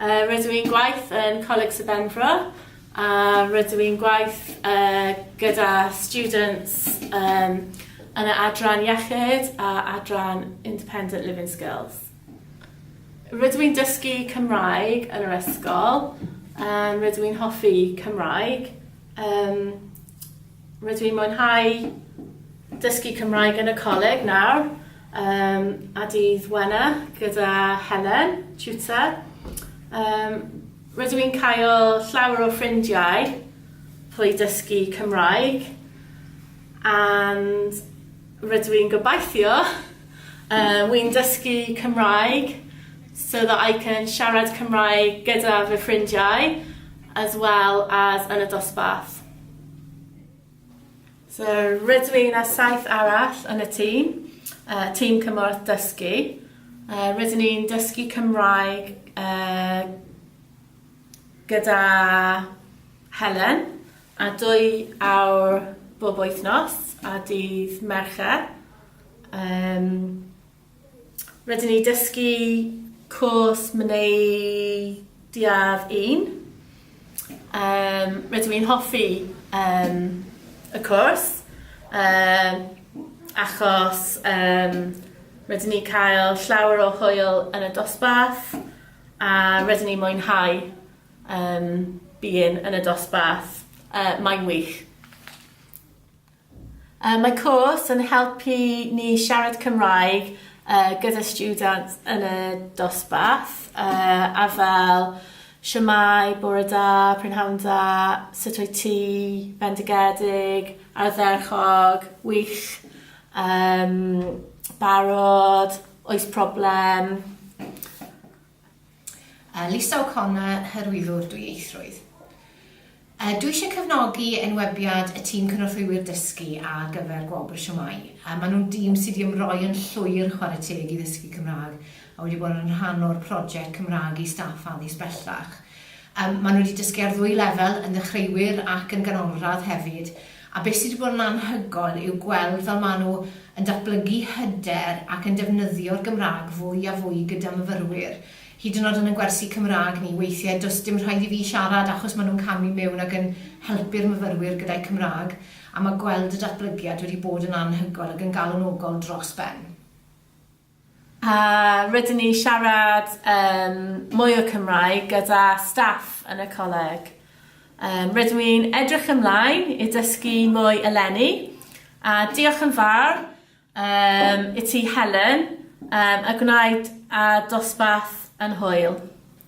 Rydw i'n gwaith yn Coleg Sir Benfro a rydw i'n gwaith gyda students yn y adran iechyd a adran independent living skills. Rydw i'n dysgu Cymraeg yn yr ysgol, rydw i'n hoffi Cymraeg. Rydw i'n mwynhau dysgu Cymraeg yn y coleg nawr um, a dydd wena gyda Helen, tutor. Um, rydw i'n cael llawer o ffrindiau trwy dysgu Cymraeg and rydw i'n gobeithio uh, wy'n dysgu Cymraeg so that I can siarad Cymraeg gyda fy ffrindiau as well as yn y dosbarth. So, rydw i'n a saith arall yn y tîm, yy tîm cymorth dysgu, yy rydyn ni'n dysgu Cymraeg yy gyda Helen, a dwy awr bob wythnos ar dydd Mercher, yym. Rydyn ni dysgu cwrs mynediad un. Um, rydw i'n hoffi um, y cwrs um, achos um, rydyn ni cael llawer o hwyl yn y dosbarth a rydyn ni mwynhau um, byn yn y dosbarth. Uh, mae'n wych. Mae cwrs yn helpu ni siarad Cymraeg gyda stiwdant yn y dosbarth, a fel, shwmae, bore da, prynhawn dda, sut wyt ti, bendigedig, ardderchog, wych, barod, oes problem. Yy Lisa O'Connor, Hyrwyddwr Dwyieithrwydd. Yy Dwi eisiau cefnogi enwebiad y tîm Cynorthwywyr Dysgu ar gyfer Gwobr Siomai. Yy Maen nhw'n dîm sydd wedi ymroi yn llwyr chwarae teg i ddysgu Cymraeg a wedi bod yn rhan o'r project Cymraeg i Staff Addysg Bellach. Yym Maen nhw wedi dysgu ar ddwy lefel, yn ddechreuwyr ac yn ganolradd hefyd. A beth sy 'di bod yn anhygoel yw gweld fel maen nhw yn datblygu hyder ac yn defnyddio'r Gymraeg fwy a fwy gyda myfyrwyr. Hyd yn oed yn ein gwersi Cymraeg ni, weithiau does dim rhaid i fi siarad achos maen nhw'n camu mewn ac yn helpu'r myfyrwyr gyda'u Cymraeg, a mae gweld y datblygiad wedi bod yn anhygoel ac yn galonogol dros ben. A rydyn ni siarad yym mwy o Cymraeg gyda staff yn y coleg. Yym rydw i'n edrych ymlaen i dysgu mwy eleni a diolch yn fawr yym i ti Helen yym a gwnaed â dosbarth yn hwyl.